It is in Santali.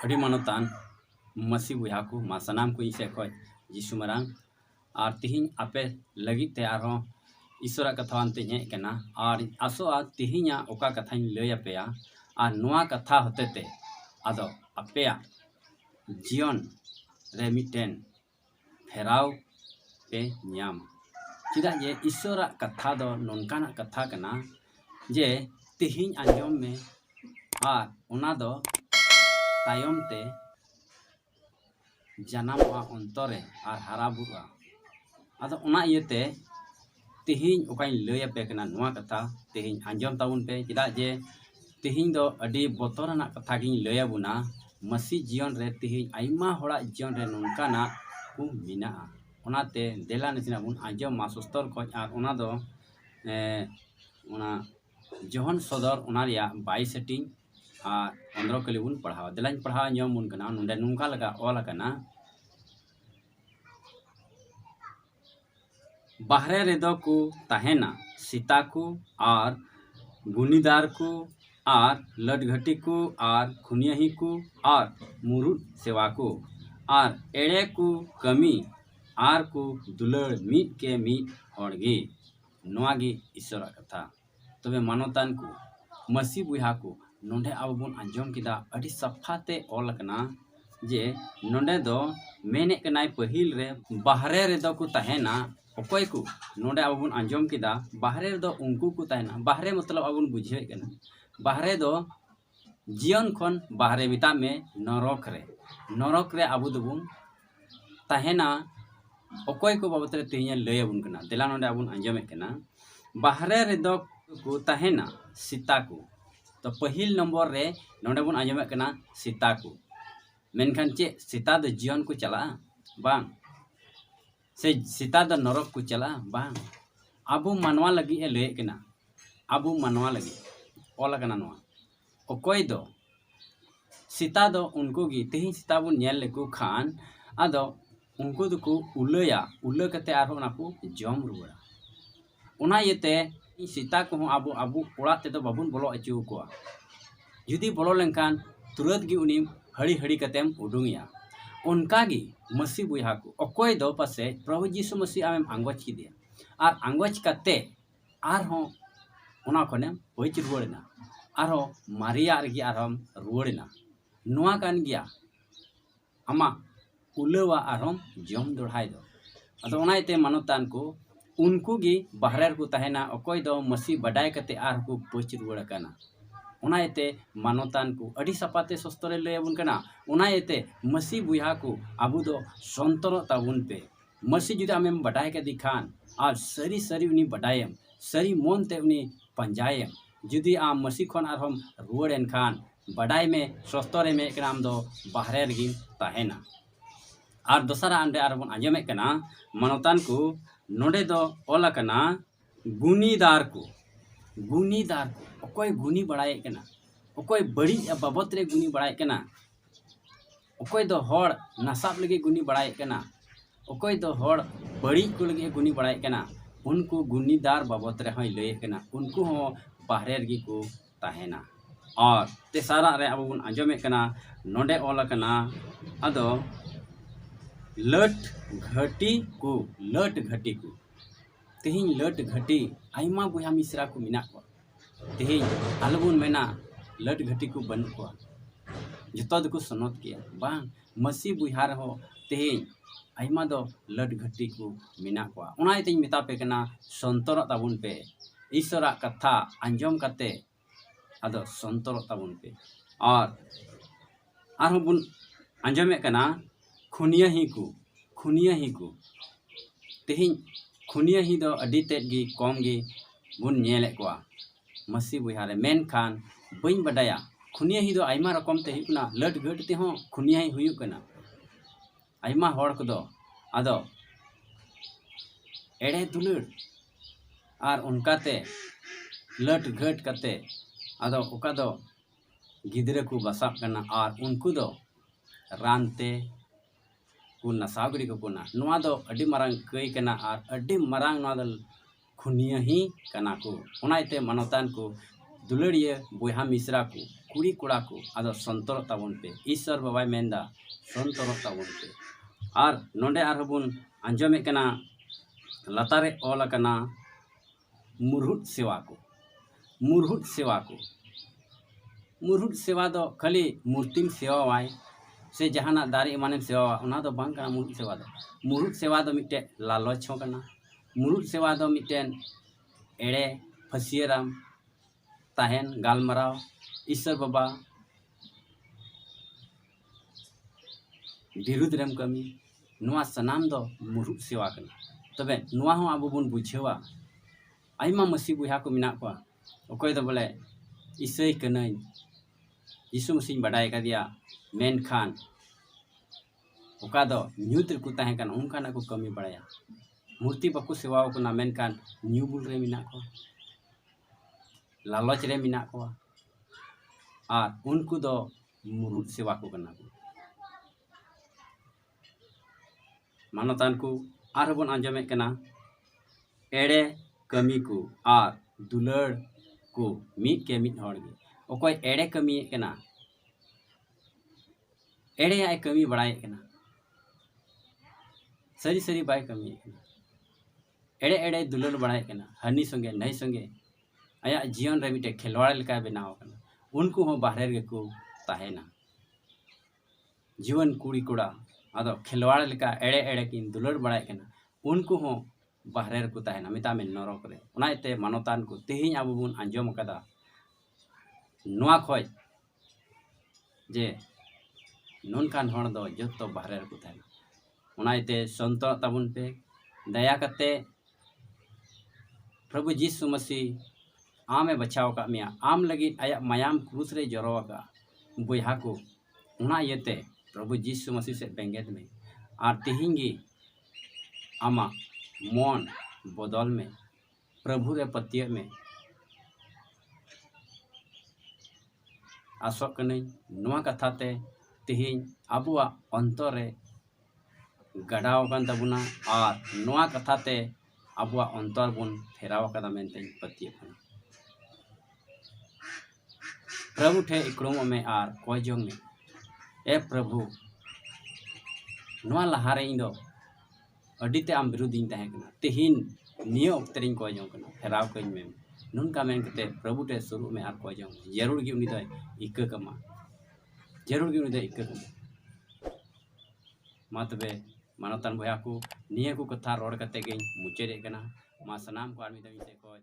ᱟᱹᱰᱤ ᱢᱟᱱᱚᱛᱟᱱ ᱢᱟᱹᱥᱤ ᱵᱚᱭᱦᱟ ᱠᱚ ᱢᱟ ᱥᱟᱱᱟᱢ ᱠᱚ ᱤᱧ ᱥᱮᱫ ᱠᱷᱚᱱ ᱡᱤᱥᱩ ᱢᱟᱨᱟᱝ ᱟᱨ ᱛᱮᱦᱮᱧ ᱟᱯᱮ ᱞᱟᱹᱜᱤᱫ ᱛᱮ ᱟᱨᱦᱚᱸ ᱤᱥᱥᱚᱨᱟᱜ ᱠᱟᱛᱷᱟ ᱟᱱᱛᱮᱧ ᱦᱮᱡ ᱟᱠᱟᱱᱟ ᱟᱨ ᱟᱥᱚᱜᱼᱟ ᱛᱮᱦᱮᱧᱟᱜ ᱚᱠᱟ ᱠᱟᱛᱷᱟᱧ ᱞᱟᱹᱭ ᱟᱯᱮᱭᱟ ᱟᱨ ᱱᱚᱣᱟ ᱠᱟᱛᱷᱟ ᱦᱚᱛᱮ ᱛᱮ ᱟᱫᱚ ᱟᱯᱮᱭᱟᱜ ᱡᱤᱭᱚᱱ ᱨᱮ ᱢᱤᱫᱴᱮᱱ ᱯᱷᱮᱨᱟᱣ ᱯᱮ ᱧᱟᱢᱟ ᱪᱮᱫᱟᱜ ᱡᱮ ᱤᱥᱥᱚᱨᱟᱜ ᱠᱟᱛᱷᱟ ᱫᱚ ᱱᱚᱝᱠᱟᱱᱟᱜ ᱠᱟᱛᱷᱟ ᱠᱟᱱᱟ ᱡᱮ ᱛᱮᱦᱮᱧ ᱟᱸᱡᱚᱢ ᱢᱮ ᱟᱨ ᱚᱱᱟ ᱫᱚ ᱛᱟᱭᱚᱢ ᱛᱮ ᱡᱟᱱᱟᱢᱚᱜᱼᱟ ᱚᱱᱛᱚᱨ ᱨᱮ ᱟᱨ ᱦᱟᱨᱟ ᱵᱩᱨᱩᱜᱼᱟ ᱟᱫᱚ ᱚᱱᱟ ᱤᱭᱟᱹᱛᱮ ᱛᱮᱦᱮᱧ ᱚᱠᱟᱧ ᱞᱟᱹᱭ ᱟᱯᱮ ᱠᱟᱱᱟ ᱱᱚᱣᱟ ᱠᱟᱛᱷᱟ ᱛᱮᱦᱮᱧ ᱟᱸᱡᱚᱢ ᱛᱟᱵᱚᱱ ᱯᱮ ᱪᱮᱫᱟᱜ ᱡᱮ ᱛᱮᱦᱮᱧ ᱫᱚ ᱟᱹᱰᱤ ᱵᱚᱛᱚᱨᱟᱱᱟᱜ ᱠᱟᱛᱷᱟ ᱜᱤᱧ ᱞᱟᱹᱭ ᱟᱵᱚᱱᱟ ᱢᱟᱹᱥᱤ ᱡᱤᱭᱚᱱ ᱨᱮ ᱛᱮᱦᱮᱧ ᱟᱭᱢᱟ ᱦᱚᱲᱟᱜ ᱡᱤᱭᱚᱱ ᱨᱮ ᱱᱚᱝᱠᱟᱱᱟᱜ ᱠᱚ ᱢᱮᱱᱟᱜᱼᱟ ᱚᱱᱟᱛᱮ ᱫᱮᱞᱟ ᱱᱟᱥᱮᱱᱟᱜ ᱵᱚᱱ ᱟᱸᱡᱚᱢᱟ ᱥᱚᱥᱛᱚᱨ ᱠᱷᱚᱱ ᱟᱨ ᱚᱱᱟ ᱫᱚ ᱚᱱᱟ ᱡᱚᱦᱚᱱ ᱥᱚᱫᱚᱨ ᱚᱱᱟ ᱨᱮᱭᱟᱜ ᱵᱟᱭᱤᱥ ᱦᱟᱹᱴᱤᱧ ᱟᱨ ᱯᱚᱱᱨᱚ ᱠᱟᱹᱞᱤ ᱵᱚᱱ ᱯᱟᱲᱦᱟᱣᱟ ᱫᱮᱞᱟᱧ ᱯᱟᱲᱦᱟᱣ ᱧᱚᱜ ᱵᱚᱱ ᱠᱟᱱᱟ ᱱᱚᱰᱮ ᱱᱚᱝᱠᱟ ᱞᱮᱠᱟ ᱚᱞ ᱟᱠᱟᱱᱟ ᱵᱟᱦᱨᱮ ᱨᱮᱫᱚ ᱠᱚ ᱛᱟᱦᱮᱱᱟ ᱥᱤᱛᱟ ᱠᱚ ᱟᱨ ᱜᱩᱱᱤᱫᱟᱨ ᱠᱚ ᱟᱨ ᱞᱟᱹᱰᱜᱷᱟᱹᱴᱤ ᱠᱚ ᱟᱨ ᱠᱷᱩᱱᱤᱭᱟᱹᱦᱤ ᱠᱚ ᱟᱨ ᱢᱩᱨᱩᱫ ᱥᱮᱣᱟ ᱠᱚ ᱟᱨ ᱮᱲᱮ ᱠᱚ ᱠᱟᱹᱢᱤ ᱟᱨ ᱠᱚ ᱫᱩᱞᱟᱹᱲ ᱢᱤᱫ ᱠᱮ ᱢᱤᱫ ᱦᱚᱲ ᱜᱮ ᱱᱚᱣᱟ ᱜᱮ ᱤᱥᱚᱨᱟᱜ ᱠᱟᱛᱷᱟ ᱛᱚᱵᱮ ᱢᱟᱱᱚᱛᱟᱱ ᱠᱚ ᱢᱟᱹᱥᱤ ᱵᱚᱭᱦᱟ ᱠᱚ ᱱᱚᱰᱮ ᱟᱵᱚ ᱵᱚᱱ ᱟᱸᱡᱚᱢ ᱠᱮᱫᱟ ᱟᱹᱰᱤ ᱥᱟᱯᱷᱟ ᱛᱮ ᱚᱞ ᱟᱠᱟᱱᱟ ᱡᱮ ᱱᱚᱰᱮ ᱫᱚ ᱢᱮᱱᱮᱫ ᱠᱟᱱᱟᱭ ᱯᱟᱹᱦᱤᱞ ᱨᱮ ᱵᱟᱦᱨᱮ ᱨᱮᱫᱚ ᱠᱚ ᱛᱟᱦᱮᱱᱟ ᱚᱠᱚᱭ ᱠᱚ ᱱᱚᱰᱮ ᱟᱵᱚ ᱵᱚᱱ ᱟᱸᱡᱚᱢ ᱠᱮᱫᱟ ᱵᱟᱦᱨᱮ ᱨᱮᱫᱚ ᱩᱱᱠᱩ ᱠᱚ ᱛᱟᱦᱮᱱᱟ ᱵᱟᱦᱨᱮ ᱢᱚᱛᱞᱚᱵ ᱟᱵᱚ ᱵᱚᱱ ᱵᱩᱡᱷᱟᱹᱣᱮᱫ ᱠᱟᱱᱟ ᱵᱟᱦᱨᱮ ᱫᱚ ᱡᱤᱭᱚᱱ ᱠᱷᱚᱱ ᱵᱟᱦᱨᱮ ᱢᱮᱛᱟᱜ ᱢᱮ ᱱᱚᱨᱚᱠ ᱨᱮ ᱱᱚᱨᱚᱠ ᱨᱮ ᱟᱵᱚ ᱫᱚᱵᱚᱱ ᱛᱟᱦᱮᱱᱟ ᱚᱠᱚᱭ ᱠᱚ ᱵᱟᱵᱚᱛ ᱨᱮ ᱛᱮᱦᱮᱧᱮ ᱞᱟᱹᱭ ᱟᱵᱚᱱ ᱠᱟᱱᱟ ᱫᱮᱞᱟ ᱱᱚᱰᱮ ᱟᱵᱚᱱ ᱟᱸᱡᱚᱢᱮᱫ ᱠᱟᱱᱟ ᱵᱟᱦᱨᱮ ᱨᱮᱫᱚ ᱠᱚ ᱛᱟᱦᱮᱱᱟ ᱥᱮᱛᱟ ᱠᱚ ᱛᱚ ᱯᱟᱹᱦᱤᱞ ᱱᱚᱢᱵᱚᱨ ᱨᱮ ᱱᱚᱰᱮ ᱵᱚᱱ ᱟᱸᱡᱚᱢᱮᱫ ᱠᱟᱱᱟ ᱥᱮᱛᱟ ᱠᱚ ᱢᱮᱱᱠᱷᱟᱱ ᱪᱮᱫ ᱥᱮᱛᱟ ᱫᱚ ᱡᱤᱭᱚᱱ ᱠᱚ ᱪᱟᱞᱟᱜᱼᱟ ᱵᱟᱝ ᱥᱮ ᱥᱮᱛᱟ ᱫᱚ ᱱᱚᱨᱚᱠ ᱠᱚ ᱪᱟᱞᱟᱜᱼᱟ ᱵᱟᱝ ᱟᱵᱚ ᱢᱟᱱᱣᱟ ᱞᱟᱹᱜᱤᱫ ᱮ ᱞᱟᱹᱭᱮᱫ ᱠᱟᱱᱟ ᱟᱵᱚ ᱢᱟᱱᱣᱟ ᱞᱟᱹᱜᱤᱫ ᱚᱞ ᱟᱠᱟᱱᱟ ᱱᱚᱣᱟ ᱚᱠᱚᱭ ᱫᱚ ᱥᱮᱛᱟ ᱫᱚ ᱩᱱᱠᱩ ᱜᱮ ᱛᱮᱦᱮᱧ ᱥᱮᱛᱟ ᱵᱚᱱ ᱧᱮᱞ ᱞᱮᱠᱚ ᱠᱷᱟᱱ ᱟᱫᱚ ᱩᱱᱠᱩ ᱫᱚᱠᱚ ᱩᱞᱟᱹᱭᱟ ᱩᱞᱟᱹ ᱠᱟᱛᱮᱫ ᱟᱨᱦᱚᱸ ᱚᱱᱟ ᱠᱚ ᱡᱚᱢ ᱨᱩᱣᱟᱹᱲᱟ ᱚᱱᱟ ᱤᱭᱟᱹᱛᱮ ᱥᱮᱛᱟ ᱠᱚᱦᱚᱸ ᱟᱵᱚ ᱟᱵᱚ ᱚᱲᱟᱜ ᱛᱮᱫᱚ ᱵᱟᱵᱚᱱ ᱵᱚᱞᱚ ᱦᱚᱪᱚ ᱟᱠᱚᱣᱟ ᱡᱩᱫᱤ ᱵᱚᱞᱚ ᱞᱮᱱᱠᱷᱟᱱ ᱛᱩᱨᱟᱹᱛ ᱜᱮ ᱩᱱᱤ ᱦᱟᱹᱲᱤ ᱦᱟᱹᱲᱤ ᱠᱟᱛᱮᱢ ᱩᱰᱩᱝ ᱮᱭᱟ ᱚᱱᱠᱟ ᱜᱮ ᱢᱟᱹᱥᱤ ᱵᱚᱭᱦᱟ ᱠᱚ ᱚᱠᱚᱭ ᱫᱚ ᱯᱟᱥᱮᱡ ᱯᱨᱚᱵᱷᱩ ᱡᱤᱥᱩ ᱢᱟᱹᱥᱤ ᱟᱢᱮᱢ ᱟᱸᱜᱚᱪ ᱠᱮᱫᱮᱭᱟ ᱟᱨ ᱟᱸᱜᱚᱪ ᱠᱟᱛᱮ ᱟᱨᱦᱚᱸ ᱚᱱᱟ ᱠᱷᱚᱱᱮᱢ ᱚᱡᱽ ᱨᱩᱣᱟᱹᱲ ᱮᱱᱟ ᱟᱨᱦᱚᱸ ᱢᱟᱨᱮᱭᱟᱜ ᱨᱮᱜᱮ ᱟᱨᱦᱚᱸᱢ ᱨᱩᱣᱟᱹᱲ ᱮᱱᱟ ᱱᱚᱣᱟ ᱠᱟᱱ ᱜᱮᱭᱟ ᱟᱢᱟᱜ ᱠᱩᱞᱟᱹᱣᱟᱜ ᱟᱨᱦᱚᱸᱢ ᱡᱚᱢ ᱫᱚᱲᱦᱟᱭ ᱫᱚ᱾ ᱟᱫᱚ ᱚᱱᱟ ᱤᱭᱟᱹᱛᱮ ᱢᱟᱱᱚᱛᱟᱱ ᱠᱚ ᱩᱱᱠᱩ ᱜᱮ ᱵᱟᱦᱨᱮ ᱨᱮᱠᱚ ᱛᱟᱦᱮᱱᱟ ᱚᱠᱚᱭ ᱫᱚ ᱢᱟᱹᱥᱤ ᱵᱟᱰᱟᱭ ᱠᱟᱛᱮ ᱟᱨᱦᱚᱸ ᱠᱚ ᱯᱟᱹᱪ ᱨᱩᱣᱟᱹᱲ ᱟᱠᱟᱱᱟ᱾ ᱚᱱᱟ ᱤᱭᱟᱹᱛᱮ ᱢᱟᱱᱚᱛᱟᱱ ᱠᱚ ᱟᱹᱰᱤ ᱥᱟᱯᱷᱟ ᱛᱮ ᱥᱚᱥᱛᱚ ᱨᱮ ᱞᱟᱹᱭ ᱟᱵᱚᱱ ᱠᱟᱱᱟ᱾ ᱚᱱᱟ ᱤᱭᱟᱹᱛᱮ ᱢᱟᱹᱥᱤ ᱵᱚᱭᱦᱟ ᱠᱚ ᱟᱵᱚ ᱫᱚ ᱥᱚᱱᱛᱚᱨᱚᱜ ᱛᱟᱵᱚᱱ ᱯᱮ᱾ ᱢᱟᱹᱥᱤ ᱡᱩᱫᱤ ᱟᱢᱮᱢ ᱵᱟᱰᱟᱭ ᱠᱟᱫᱮ ᱠᱷᱟᱱ ᱟᱨ ᱥᱟᱹᱨᱤ ᱥᱟᱹᱨᱤ ᱩᱱᱤ ᱵᱟᱰᱟᱭᱮᱢ ᱥᱟᱹᱨᱤ ᱢᱚᱱ ᱛᱮ ᱩᱱᱤ ᱯᱟᱸᱡᱟᱭᱮᱢ ᱡᱩᱫᱤ ᱟᱢ ᱢᱟᱹᱥᱤ ᱠᱷᱚᱱ ᱟᱨᱦᱚᱸᱢ ᱨᱩᱣᱟᱹᱲ ᱮᱱ ᱠᱷᱟᱱ ᱵᱟᱰᱟᱭ ᱢᱮ ᱥᱚᱥᱛᱚ ᱨᱮ ᱢᱮᱱᱮᱫ ᱠᱟᱱᱟ ᱟᱢ ᱫᱚ ᱵᱟᱦᱨᱮ ᱨᱮᱜᱮᱢ ᱛᱟᱦᱮᱱᱟ ᱟᱨ ᱫᱚᱥᱟᱨᱟᱜ ᱟᱱᱨᱮ ᱟᱨᱦᱚᱸ ᱵᱚᱱ ᱟᱸᱡᱚᱢᱮᱫ ᱠᱟᱱᱟ ᱢᱟᱱᱚᱛᱟᱱ ᱠᱚ ᱱᱚᱰᱮ ᱫᱚ ᱚᱞ ᱟᱠᱟᱱᱟ ᱜᱩᱱᱤᱫᱟᱨ ᱠᱚ ᱜᱩᱱᱤᱫᱟᱨ ᱠᱚ ᱚᱠᱚᱭ ᱜᱩᱱᱤ ᱵᱟᱲᱟᱭᱮᱫ ᱠᱟᱱᱟ ᱚᱠᱚᱭ ᱵᱟᱹᱲᱤᱡ ᱟᱜ ᱵᱟᱵᱚᱫ ᱨᱮ ᱜᱩᱱᱤ ᱵᱟᱲᱟᱭᱮᱫ ᱠᱟᱱᱟ ᱚᱠᱚᱭ ᱫᱚ ᱦᱚᱲ ᱱᱟᱥᱟᱵ ᱞᱟᱹᱜᱤᱫ ᱜᱩᱱᱤ ᱵᱟᱲᱟᱭᱮᱫ ᱠᱟᱱᱟ ᱚᱠᱚᱭ ᱫᱚ ᱦᱚᱲ ᱵᱟᱹᱲᱤᱡ ᱠᱚ ᱞᱟᱹᱜᱤᱫ ᱜᱩᱱᱤ ᱵᱟᱲᱟᱭᱮᱫ ᱠᱟᱱᱟ ᱩᱱᱠᱩ ᱜᱩᱱᱤᱫᱟᱨ ᱵᱟᱵᱚᱛ ᱨᱮᱦᱚᱸᱭ ᱞᱟᱹᱭᱮᱫ ᱠᱟᱱᱟ ᱩᱱᱠᱩ ᱦᱚᱸ ᱵᱟᱦᱨᱮ ᱨᱮᱜᱮ ᱠᱚ ᱛᱟᱦᱮᱱᱟ ᱟᱨ ᱛᱮᱥᱟᱨᱟᱜ ᱨᱮ ᱟᱵᱚ ᱵᱚᱱ ᱟᱸᱡᱚᱢᱮᱫ ᱠᱟᱱᱟ ᱱᱚᱰᱮ ᱚᱞ ᱟᱠᱟᱱᱟ ᱟᱫᱚ ᱞᱟᱹᱴ ᱜᱷᱟᱹᱴᱤ ᱠᱚ ᱞᱟᱹᱴ ᱜᱷᱟᱹᱴᱤ ᱠᱚ ᱛᱮᱦᱮᱧ ᱞᱟᱹᱴ ᱜᱷᱟᱹᱴᱤ ᱟᱭᱢᱟ ᱵᱚᱭᱦᱟ ᱢᱤᱥᱨᱟ ᱠᱚ ᱢᱮᱱᱟᱜ ᱠᱚᱣᱟ ᱛᱮᱦᱮᱧ ᱟᱞᱚ ᱵᱚᱱ ᱢᱮᱱᱟ ᱞᱟᱹᱴ ᱜᱷᱟᱹᱴᱤ ᱠᱚ ᱵᱟᱹᱱᱩᱜ ᱠᱚᱣᱟ ᱡᱚᱛᱚ ᱫᱚᱠᱚ ᱥᱚᱱᱚᱛ ᱜᱮᱭᱟ ᱵᱟᱝ ᱢᱟᱹᱥᱤ ᱵᱚᱭᱦᱟ ᱨᱮᱦᱚᱸ ᱛᱮᱦᱮᱧ ᱟᱭᱢᱟ ᱫᱚ ᱞᱟᱹᱴ ᱜᱷᱟᱹᱴᱤ ᱠᱚ ᱢᱮᱱᱟᱜ ᱠᱚᱣᱟ ᱚᱱᱟ ᱤᱭᱟᱹ ᱛᱤᱧ ᱢᱮᱛᱟ ᱯᱮ ᱠᱟᱱᱟ ᱥᱚᱱᱛᱚᱨᱚᱜ ᱛᱟᱵᱚᱱ ᱯᱮ ᱤᱥᱥᱚᱨᱟᱜ ᱠᱟᱛᱷᱟ ᱟᱸᱡᱚᱢ ᱠᱟᱛᱮᱫ ᱟᱫᱚ ᱥᱚᱱᱛᱚᱨᱚᱜ ᱛᱟᱵᱚᱱ ᱯᱮ ᱟᱨ ᱟᱨᱦᱚᱸ ᱵᱚᱱ ᱟᱸᱡᱚᱢᱮᱫ ᱠᱟᱱᱟ ᱠᱷᱩᱱᱤᱭᱟᱹ ᱦᱤ ᱠᱚ ᱠᱷᱩᱱᱤᱭᱟᱹ ᱦᱤ ᱠᱚ ᱛᱮᱦᱮᱧ ᱠᱷᱩᱱᱤᱭᱟᱹ ᱦᱤ ᱫᱚ ᱟᱹᱰᱤ ᱛᱮᱫ ᱜᱮ ᱠᱚᱢ ᱜᱮ ᱵᱚᱱ ᱧᱮᱞᱮᱫ ᱠᱚᱣᱟ ᱢᱟᱹᱥᱤ ᱵᱚᱭᱦᱟ ᱨᱮ ᱢᱮᱱᱠᱷᱟᱱ ᱵᱟᱹᱧ ᱵᱟᱰᱟᱭᱟ ᱠᱷᱩᱱᱤᱭᱟᱹ ᱦᱤ ᱫᱚ ᱟᱭᱢᱟ ᱨᱚᱠᱚᱢ ᱛᱮ ᱦᱩᱭᱩᱜ ᱠᱟᱱᱟ ᱞᱟᱹᱴ ᱜᱟᱹᱴ ᱛᱮᱦᱚᱸ ᱠᱷᱩᱱᱤᱭᱟᱹ ᱦᱤ ᱦᱩᱭᱩᱜ ᱠᱟᱱᱟ ᱟᱭᱢᱟ ᱦᱚᱲ ᱠᱚᱫᱚ ᱟᱫᱚ ᱮᱲᱮ ᱫᱩᱞᱟᱹᱲ ᱟᱨ ᱚᱱᱠᱟᱛᱮ ᱞᱟᱹᱴ ᱜᱟᱹᱴ ᱠᱟᱛᱮ ᱟᱫᱚ ᱚᱠᱟ ᱫᱚ ᱜᱤᱫᱽᱨᱟᱹ ᱠᱚ ᱵᱟᱥᱟᱜ ᱠᱟᱱᱟ ᱟᱨ ᱩᱱᱠᱩ ᱫᱚ ᱨᱟᱱ ᱛᱮ ᱠᱚ ᱱᱟᱥᱟᱣ ᱜᱤᱰᱤ ᱠᱟᱠᱚ ᱠᱟᱱᱟ ᱱᱚᱣᱟ ᱫᱚ ᱟᱹᱰᱤ ᱢᱟᱨᱟᱝ ᱠᱟᱹᱭ ᱠᱟᱱᱟ ᱟᱨ ᱟᱹᱰᱤ ᱢᱟᱨᱟᱝ ᱱᱚᱣᱟ ᱫᱚ ᱠᱷᱩᱱᱭᱟᱹᱦᱤ ᱠᱟᱱᱟ ᱠᱚ ᱚᱱᱟ ᱤᱭᱟᱹᱛᱮ ᱢᱟᱱᱚᱛᱟᱱ ᱠᱚ ᱫᱩᱞᱟᱹᱲᱤᱭᱟᱹ ᱵᱚᱭᱦᱟ ᱢᱤᱥᱨᱟ ᱠᱚ ᱠᱩᱲᱤ ᱠᱚᱲᱟ ᱠᱚ ᱟᱫᱚ ᱥᱚᱱᱛᱚᱨᱚᱜ ᱛᱟᱵᱚᱱ ᱯᱮ ᱤᱥᱥᱚᱨ ᱵᱟᱵᱟᱭ ᱢᱮᱱᱫᱟ ᱥᱚᱱᱛᱚᱨᱚᱜ ᱛᱟᱵᱚᱱ ᱯᱮ ᱟᱨ ᱱᱚᱰᱮ ᱟᱨᱦᱚᱸ ᱵᱚᱱ ᱟᱸᱡᱚᱢᱮᱫ ᱠᱟᱱᱟ ᱞᱟᱛᱟᱨ ᱨᱮ ᱚᱞ ᱟᱠᱟᱱᱟ ᱢᱩᱬᱩᱫ ᱥᱮᱵᱟ ᱠᱚ ᱢᱩᱬᱩᱫ ᱥᱮᱵᱟ ᱠᱚ ᱢᱩᱬᱩᱫ ᱥᱮᱵᱟ ᱫᱚ ᱠᱷᱟᱹᱞᱤ ᱢᱩᱨᱛᱤᱢ ᱥᱮᱵᱟ ᱟᱭ ᱥᱮ ᱡᱟᱦᱟᱱᱟᱜ ᱫᱟᱨᱮ ᱮᱢᱟᱱᱮᱢ ᱥᱮᱵᱟ ᱟᱭᱟ ᱚᱱᱟ ᱫᱚ ᱵᱟᱝ ᱠᱟᱱᱟ ᱢᱩᱬᱩᱫ ᱥᱮᱵᱟ ᱫᱚ ᱢᱩᱬᱩᱫ ᱥᱮᱵᱟ ᱫᱚ ᱢᱤᱫᱴᱮᱱ ᱞᱟᱞᱚᱪ ᱦᱚᱸ ᱠᱟᱱᱟ ᱢᱩᱬᱩᱫ ᱥᱮᱵᱟ ᱫᱚ ᱢᱤᱫᱴᱮᱱ ᱮᱲᱮ ᱯᱷᱟᱹᱥᱭᱟᱹᱨᱟᱢ ᱛᱟᱦᱮᱱ ᱜᱟᱞᱢᱟᱨᱟᱣ ᱤᱥᱚᱨ ᱵᱟᱵᱟ ᱵᱤᱨᱩᱫᱽ ᱨᱮᱢ ᱠᱟᱹᱢᱤ ᱱᱚᱣᱟ ᱥᱟᱱᱟᱢ ᱫᱚ ᱢᱩᱨᱩᱫ ᱥᱮᱣᱟ ᱠᱟᱱᱟ ᱛᱚᱵᱮ ᱱᱚᱣᱟ ᱦᱚᱸ ᱟᱵᱚ ᱵᱚᱱ ᱵᱩᱡᱷᱟᱹᱣᱟ ᱟᱭᱢᱟ ᱢᱟᱹᱥᱤ ᱵᱚᱭᱦᱟ ᱠᱚ ᱢᱮᱱᱟᱜ ᱠᱚᱣᱟ ᱚᱠᱚᱭ ᱫᱚ ᱵᱚᱞᱮ ᱤᱥᱟᱹᱭ ᱠᱟᱹᱱᱟᱹᱧ ᱡᱤᱥᱩ ᱢᱟᱹᱥᱤᱧ ᱵᱟᱰᱟᱭ ᱠᱟᱫᱮᱭᱟ ᱢᱮᱱᱠᱷᱟᱱ ᱚᱠᱟ ᱫᱚ ᱧᱩᱛ ᱨᱮᱠᱚ ᱛᱟᱦᱮᱸ ᱠᱟᱱᱟ ᱚᱱᱠᱟᱱᱟᱜ ᱠᱚ ᱠᱟᱹᱢᱤ ᱵᱟᱲᱟᱭᱟ ᱢᱩᱨᱛᱤ ᱵᱟᱠᱚ ᱥᱮᱵᱟᱣ ᱠᱟᱱᱟ ᱢᱮᱱᱠᱷᱟᱱ ᱧᱩ ᱵᱩᱞ ᱨᱮ ᱢᱮᱱᱟᱜ ᱠᱚᱣᱟ ᱞᱟᱞᱚᱪ ᱨᱮ ᱢᱮᱱᱟᱜ ᱠᱚᱣᱟ ᱟᱨ ᱩᱱᱠᱩ ᱫᱚ ᱢᱩᱬᱩᱫ ᱥᱮᱵᱟ ᱠᱚ ᱠᱟᱱᱟ ᱠᱚ ᱢᱟᱱᱚᱛᱟᱱ ᱠᱚ ᱟᱨᱦᱚᱸ ᱵᱚᱱ ᱟᱸᱡᱚᱢᱮᱫ ᱠᱟᱱᱟ ᱮᱲᱮ ᱠᱟᱹᱢᱤ ᱠᱚ ᱟᱨ ᱫᱩᱞᱟᱹᱲ ᱠᱚ ᱢᱤᱫ ᱠᱮ ᱢᱤᱫ ᱦᱚᱲ ᱜᱮ ᱚᱠᱚᱭ ᱮᱲᱮ ᱠᱟᱹᱢᱤᱭᱮᱫ ᱠᱟᱱᱟ ᱮᱲᱮᱭᱟᱜ ᱮ ᱠᱟᱹᱢᱤ ᱵᱟᱲᱟᱭᱮᱫ ᱠᱟᱱᱟ ᱥᱟᱹᱨᱤ ᱥᱟᱹᱨᱤ ᱵᱟᱭ ᱠᱟᱹᱢᱤᱭᱮᱫ ᱠᱟᱱᱟ ᱮᱲᱮ ᱮᱲᱮ ᱫᱩᱞᱟᱹᱲ ᱵᱟᱲᱟᱭ ᱠᱟᱱᱟ ᱦᱟᱹᱱᱤ ᱥᱚᱸᱜᱮ ᱱᱟᱹᱭ ᱥᱚᱸᱜᱮ ᱟᱭᱟᱜ ᱡᱤᱭᱚᱱ ᱨᱮ ᱢᱤᱫᱴᱮᱱ ᱠᱷᱮᱞᱣᱟᱲ ᱞᱮᱠᱟᱭ ᱵᱮᱱᱟᱣ ᱟᱠᱟᱱᱟ ᱩᱱᱠᱩ ᱦᱚᱸ ᱵᱟᱦᱨᱮ ᱨᱮᱜᱮ ᱠᱚ ᱛᱟᱦᱮᱱᱟ ᱡᱩᱣᱟᱹᱱ ᱠᱩᱲᱤ ᱠᱚᱲᱟ ᱟᱫᱚ ᱠᱷᱮᱞᱣᱟᱲ ᱞᱮᱠᱟ ᱮᱲᱮ ᱮᱲᱮ ᱠᱤᱱ ᱫᱩᱞᱟᱹᱲ ᱵᱟᱲᱟᱭ ᱠᱟᱱᱟ ᱩᱱᱠᱩ ᱦᱚᱸ ᱵᱟᱦᱨᱮ ᱨᱮᱠᱚ ᱛᱟᱦᱮᱱᱟ ᱢᱮᱛᱟᱜ ᱢᱮ ᱱᱚᱨᱚᱠ ᱨᱮ ᱚᱱᱟ ᱤᱭᱟᱹᱛᱮ ᱢᱟᱱᱚᱛᱟᱱ ᱠᱚ ᱛᱮᱦᱮᱧ ᱟᱵᱚ ᱵᱚᱱ ᱟᱸᱡᱚᱢ ᱟᱠᱟᱫᱟ ᱱᱚᱣᱟ ᱠᱷᱚᱡ ᱡᱮ ᱱᱚᱝᱠᱟᱱ ᱦᱚᱲ ᱫᱚ ᱡᱚᱛᱚ ᱵᱟᱦᱨᱮ ᱨᱮᱠᱚ ᱛᱟᱦᱮᱱᱟ ᱚᱱᱟ ᱤᱭᱟᱹᱛᱮ ᱥᱚᱱᱛᱚᱨᱚᱜ ᱛᱟᱵᱚᱱ ᱯᱮ ᱫᱟᱭᱟ ᱠᱟᱛᱮ ᱯᱨᱚᱵᱷᱩ ᱡᱤᱥᱩ ᱢᱟᱹᱥᱤ ᱟᱢᱮ ᱵᱟᱪᱷᱟᱣ ᱟᱠᱟᱫ ᱢᱮᱭᱟ ᱟᱢ ᱞᱟᱹᱜᱤᱫ ᱟᱭᱟᱜ ᱢᱟᱭᱟᱢ ᱠᱨᱩᱥ ᱨᱮ ᱡᱚᱨᱚ ᱟᱠᱟᱫᱼᱟ ᱵᱚᱭᱦᱟ ᱠᱚ ᱚᱱᱟ ᱤᱭᱟᱹᱛᱮ ᱯᱨᱚᱵᱷᱩ ᱡᱤᱥᱩ ᱢᱟᱹᱥᱤ ᱥᱮᱫ ᱵᱮᱸᱜᱮᱫ ᱢᱮ ᱟᱨ ᱛᱮᱦᱮᱧ ᱜᱮ ᱟᱢᱟᱜ ᱢᱚᱱ ᱵᱚᱫᱚᱞ ᱢᱮ ᱯᱨᱚᱵᱷᱩ ᱨᱮ ᱯᱟᱹᱛᱭᱟᱹᱜ ᱢᱮ ᱟᱥᱚᱜ ᱠᱟᱹᱱᱟᱹᱧ ᱱᱚᱣᱟ ᱠᱟᱛᱷᱟ ᱛᱮ ᱛᱮᱦᱮᱧ ᱟᱵᱚᱣᱟᱜ ᱚᱱᱛᱚᱨ ᱨᱮ ᱜᱟᱰᱟᱣ ᱟᱠᱟᱱ ᱛᱟᱵᱚᱱᱟ ᱟᱨ ᱱᱚᱣᱟ ᱠᱟᱛᱷᱟ ᱛᱮ ᱟᱵᱚᱣᱟᱜ ᱚᱱᱛᱚᱨ ᱵᱚᱱ ᱯᱷᱮᱨᱟᱣ ᱟᱠᱟᱫᱟ ᱢᱮᱱᱛᱮᱧ ᱯᱟᱹᱛᱭᱟᱹᱜ ᱠᱟᱱᱟ ᱯᱨᱚᱵᱷᱩ ᱴᱷᱮᱱ ᱤᱠᱲᱚᱢᱚᱜ ᱢᱮ ᱟᱨ ᱠᱚᱭ ᱡᱚᱝ ᱢᱮ ᱮ ᱯᱨᱚᱵᱷᱩ ᱱᱚᱣᱟ ᱞᱟᱦᱟᱨᱮ ᱤᱧ ᱫᱚ ᱟᱹᱰᱤ ᱛᱮᱫ ᱟᱢ ᱵᱤᱨᱩᱫᱷ ᱤᱧ ᱛᱟᱦᱮᱸ ᱠᱟᱱᱟ ᱛᱮᱦᱮᱧ ᱱᱤᱭᱟᱹ ᱚᱠᱛᱮ ᱨᱤᱧ ᱠᱚᱭ ᱡᱚᱝ ᱠᱟᱱᱟ ᱯᱷᱮᱨᱟᱣ ᱠᱟᱹᱧ ᱢᱮ ᱱᱚᱝᱠᱟ ᱢᱮᱱ ᱠᱟᱛᱮ ᱯᱨᱚᱵᱷᱩ ᱴᱷᱮᱱ ᱥᱩᱨᱩᱜ ᱢᱮ ᱟᱨ ᱠᱚᱭ ᱡᱚᱝ ᱢᱮ ᱡᱟᱹᱨᱩᱲ ᱜᱮ ᱩᱱᱤ ᱫᱚᱭ ᱤᱠᱟᱹ ᱠᱟᱢᱟ ᱡᱟᱹᱨᱩᱲ ᱜᱮ ᱩᱱᱤ ᱫᱚᱭ ᱤᱠᱟᱹ ᱠᱟᱢᱟ ᱢᱟ ᱛᱚᱵᱮ ᱢᱟᱱᱚᱛᱟᱱ ᱵᱚᱭᱦᱟ ᱠᱚ ᱱᱤᱭᱟᱹ ᱠᱚ ᱠᱟᱛᱷᱟ ᱨᱚᱲ ᱠᱟᱛᱮ ᱜᱤᱧ ᱢᱩᱪᱟᱹᱫᱮᱫ ᱠᱟᱱᱟ ᱢᱟ ᱥᱟᱱᱟᱢ ᱠᱚ ᱟᱨ ᱢᱤᱫ ᱫᱷᱟᱣ ᱤᱧ ᱥᱮᱫ ᱠᱷᱚᱱ